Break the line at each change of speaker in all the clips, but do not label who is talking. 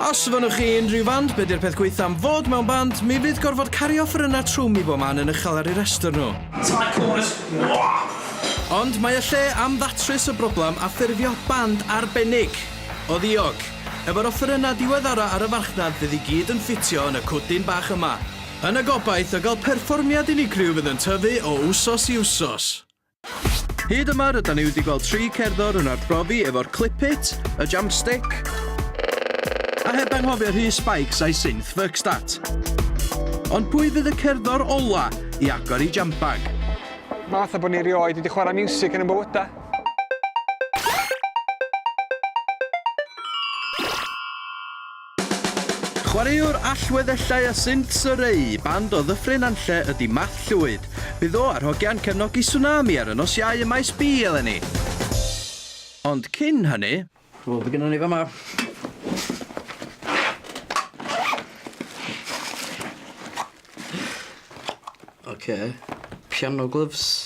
Os fynnwch chi unrhyw fand, be di'r peth gweitha am fod mewn band? Mi fydd gorfod cario ffyrynau trwm i bob man yn uchel ar ei restr nhw. Ond mae y lle am ddatrys y broblem a ffurfio band arbennig o ddiog. Efo'r offerynnau diweddara ar y farchnad fydd i gyd yn ffitio yn y cwdyn bach yma. Yn y gobaith o gael perfformiad unigryw fydd yn tyfu o wsos i wsos. Hyd yma rydan ni wedi gweld tri cerddor yn arbrofi efo'r clip-it, y jump-stick, a heb anghofio rhy spikes a'i synth fuckstat. Ond pwy fydd y cerddor ola i agor i jump bag? Mae fatha
bod ni rioed wedi chwarae miwsig yn y bywydau.
Chwaraewr allweddellau a synt o reu band o Ddyffryn Nantlle ydy Math Llwyd. Bydd o a'r hogiau'n cefnogi Tsunami ar y nos Iau ym Maes B eleni. Ond cyn hynny... Wel, be gynnon ni fama?
Ocê. Piano gloves.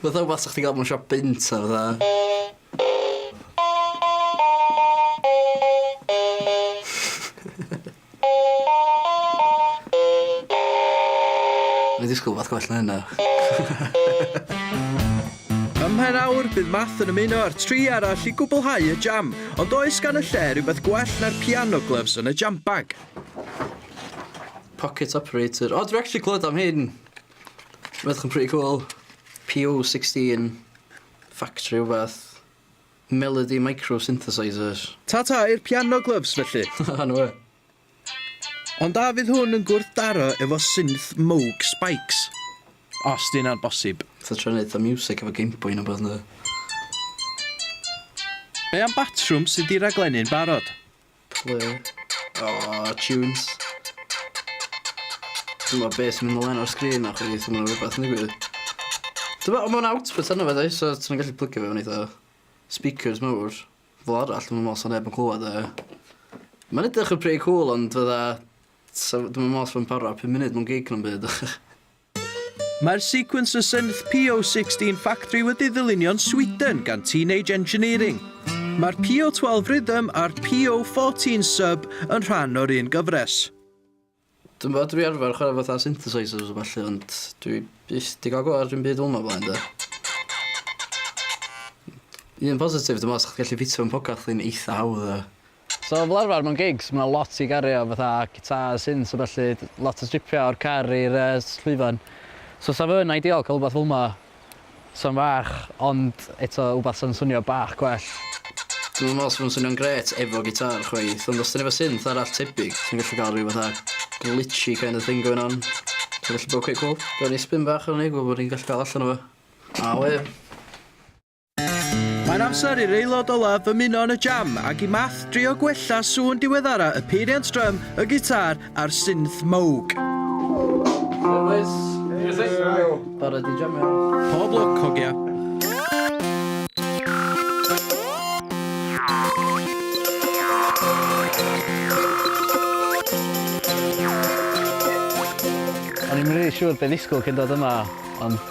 Fatha wbath sa chdi ga'l mewn siop bunt a fatha. O'n i'n disgwl wbath gwell na hynna.
Ym mhen awr, bydd Math yn ymuno â'r tri arall i gwblhau y jam, ond oes gan y lle rywbeth gwell na'r piano gloves yn y jam bag?
Pocket operator. O dwi actually clywed am hyn. Edrych yn pretty cool. PO sixteen factory wbath. Melody micro synthesisers. Ta ta i'r
piano glyfs felly. Haha no wê. Ond a fydd hwn yn gwrthdaro efo synth Moog Spikes? Os 'di hynna'n bosib. Fatha trio neud fatha miwsic
efo gameboy ne' wbath yndi?
Be am batrwm sy 'di raglennu'n barod? Plu.
Oh, tunes. Dwi'n meddwl beth sy'n mynd ymlaen ar sgrin na chwi, dwi'n meddwl rhywbeth yn digwydd. Dwi'n meddwl, mae'n output yna fe, so ti'n gallu plygio fe yn eitha speakers mawr. Fel arall, dwi'n meddwl sy'n neb yn clywed e. Mae'n edrych yn pretty cool, ond fydda... Dwi'n meddwl sy'n para 5 munud mewn gig na'n byd.
Mae'r sequencer synth PO16 Factory wedi ddylunio'n Sweden gan Teenage Engineering. Mae'r PO12 Rhythm a'r PO14 Sub yn rhan o'r un gyfres. Dwi'n
bod, dwi arfer chwarae fatha synthesizers a falle, ond dwi byth di gael go ar dim byd fel yma blaen, da. Un positif, dwi'n meddwl, sa'ch gallu ffitio yn pocad chdi'n eitha hawdd, da. So fel arfer
mewn gigs ma' 'na lot i gario fatha gitars, synths a ballu, lot o stripio o'r car i'r yy s- llwyfan. So sa fe'n ideal ca'l wbath fel'ma sa'n fach ond eto wbath sa'n swnio bach gwell. Dwi'm yn me'wl
sa fe'n swnio'n grêt efo gitar chwaith ond os ti'n efo synth arall tebyg ti'n gallu ga'l ryw fatha glitchy kind of thing going on sy'n gallu bod cweit cwl. Gawn ni sbin bach arno ni gwel' be' ni'n gallu ga'l allan o fe. Aww ia.
Mae'n amser i'r aelod olaf ymuno yn y jam ac i Math drio gwella sŵn diweddara y peiriant drum, y gitâr a'r synth Moog. Helo
bois. Helo. Barod i jamio? Pob lwc, hogia.
O'n i'm rili siŵr be' ddisgwl cyn dod yma ond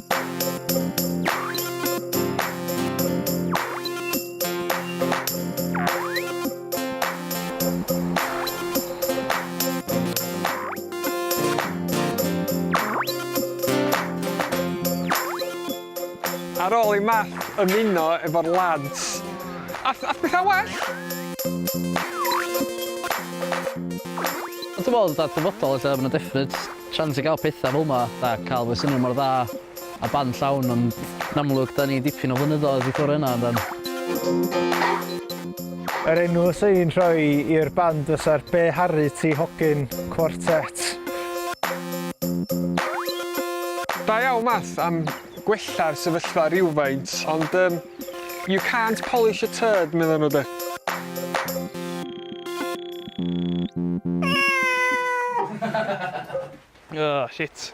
Ar ôl i Math ymuno efo'r lads, ath ath petha'n well! Ond
ti'n meddwl fatha dyfodol ella ma' 'na difference. Siawns i gael pethau fel 'ma, fatha cael fy swnio mor dda a band llawn, ond yn amlwg 'da ni dipyn o flynyddoedd i ffwrdd o hynna yndan?
Yr enw 'swn i'n rhoi i'r band fysa'r Be Harri Ti Hogyn Quartet.
Da iawn Math am gwella'r sefyllfa rywfaint, ond yym you can't polish a turd, meddan nhw 'de?
Oh, shit.